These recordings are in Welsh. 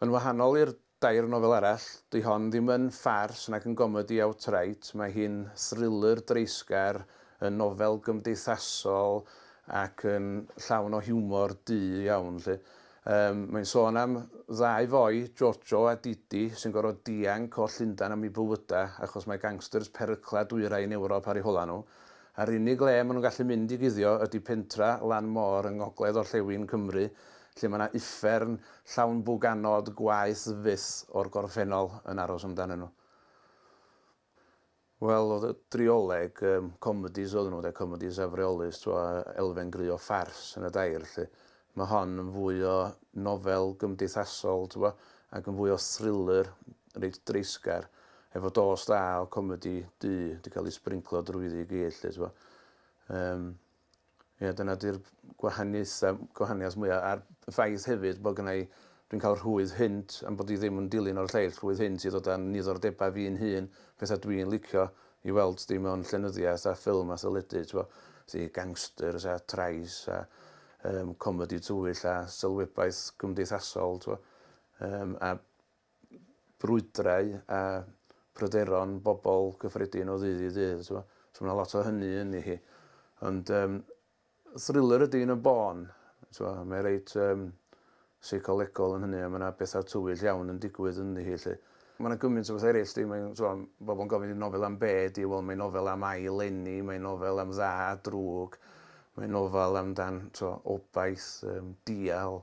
Yn wahanol i'r dair nofel arall, 'dy hon ddim yn ffars nac yn gomedi outright, mae hi'n thriller dreisgar, yn nofel gymdeithasol ac yn llawn o hiwmor du iawn 'lly. Yym, mae'n sôn am ddau foi, Jojo a Didi, sy'n gorfod dianc o Llundain am eu bywydau achos mae gangsters perycla dwyrain Ewrop ar eu holau nhw. A'r unig le maen nhw'n gallu mynd i guddio ydy pentra lan môr yng ngogledd orllewin Cymru, lle mae 'na uffern llawn bwg anod gwaeth fyth o'r gorffennol yn aros amdanyn nhw. Wel, oedd y drioleg, um, comedies oedd nhw, de, comedies afreolus, twa, elfen gry o ffars yn y dair, lle mae hon yn fwy o nofel gymdeithasol, twa, ac yn fwy o thriller, reit dreisgar, efo dos da o comedi du wedi cael ei sbrinclo drwyddi i gyd, lle, twa. Um, Ie, dyna 'di'r gwahaniaeth yym gwahaniaeth mwya' a'r ffaith hefyd bo' gynna' i dwi'n ca'l rhwydd hynt am bod i ddim yn dilyn o'r lleill, rhwydd hynt i ddod â'n niddordeba' fi'n hun, petha' dwi'n licio i weld di mewn llenyddiaeth a ffilm a theledu t'bo', felly gangsters a trais a yym comedi tywyll a sylwebaeth cymdeithasol t'bo', yym a brwydrau a pryderon bobl gyffredin o ddydd i ddydd, so mae yna lot o hynny yn hi. Ond um, thriller ydy yn y bôn, so, mae reit um, seicolegol yn hynny, a mae yna bethau tywyll iawn yn digwydd yn hi. Lle. Mae yna gymaint o bethau eraill, di, mae'n so, bobl yn gofyn i'n nofel am be, di, wel, mae'n nofel am ai lenni, mae'n nofel am dda a drwg, mae'n nofel amdan so, obaith, um, dial,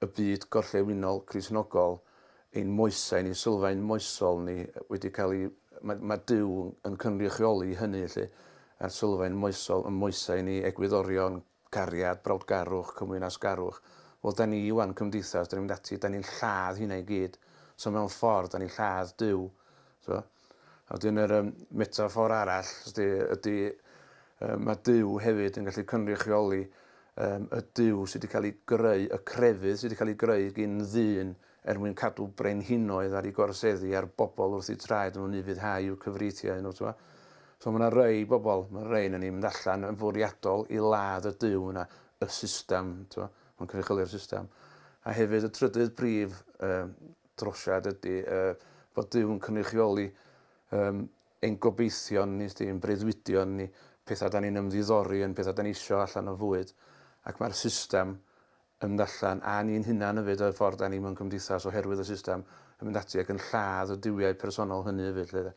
y byd gorllewinol Gristnogol, ein moesau ni, sylfaen moesol ni wedi cael ei... mae, mae Duw yn cynrychioli hynny, felly, a'r sylfaen moesol, y moesau ni, egwyddorion, cariad, brawdgarwch, cymwynasgarwch. Wel, da ni wan, cymdeithas, da ni'n mynd ati, da ni'n lladd hynna i gyd. So mewn ffordd, da ni'n lladd Duw. So, A wedyn yr yym metaffor arall ysti ydi yy ma' Duw hefyd yn gallu cynrychioli yym y Duw sy 'di ca'l 'i greu, y crefydd sy 'di ca'l 'i greu gin ddyn er mwyn cadw brenhinoedd ar 'i gorseddi a'r bobol wrth 'u traed nw'n ufuddhau i'w cyfreithiau nw t'mo'. So ma' 'na rei bobol, ma' rei onon ni'n mynd allan yn fwriadol i ladd y Duw yna, y system t'mo', ma'n cynrychioli'r system. A hefyd y trydydd prif yy drosiad ydy yy bod Duw'n cynrychioli yym ein gobeithion ni, sdi, ein breuddwydion ni, petha 'dan ni'n ymddiddori yn, petha 'dan ni isio allan o fwyd, ac mae'r system yn mynd allan, a ni'n hunan hefyd, y ffordd 'dan ni mewn cymdeithas oherwydd y system, yn mynd ati ac yn lladd y duwiau personol hynny hefyd 'lly de.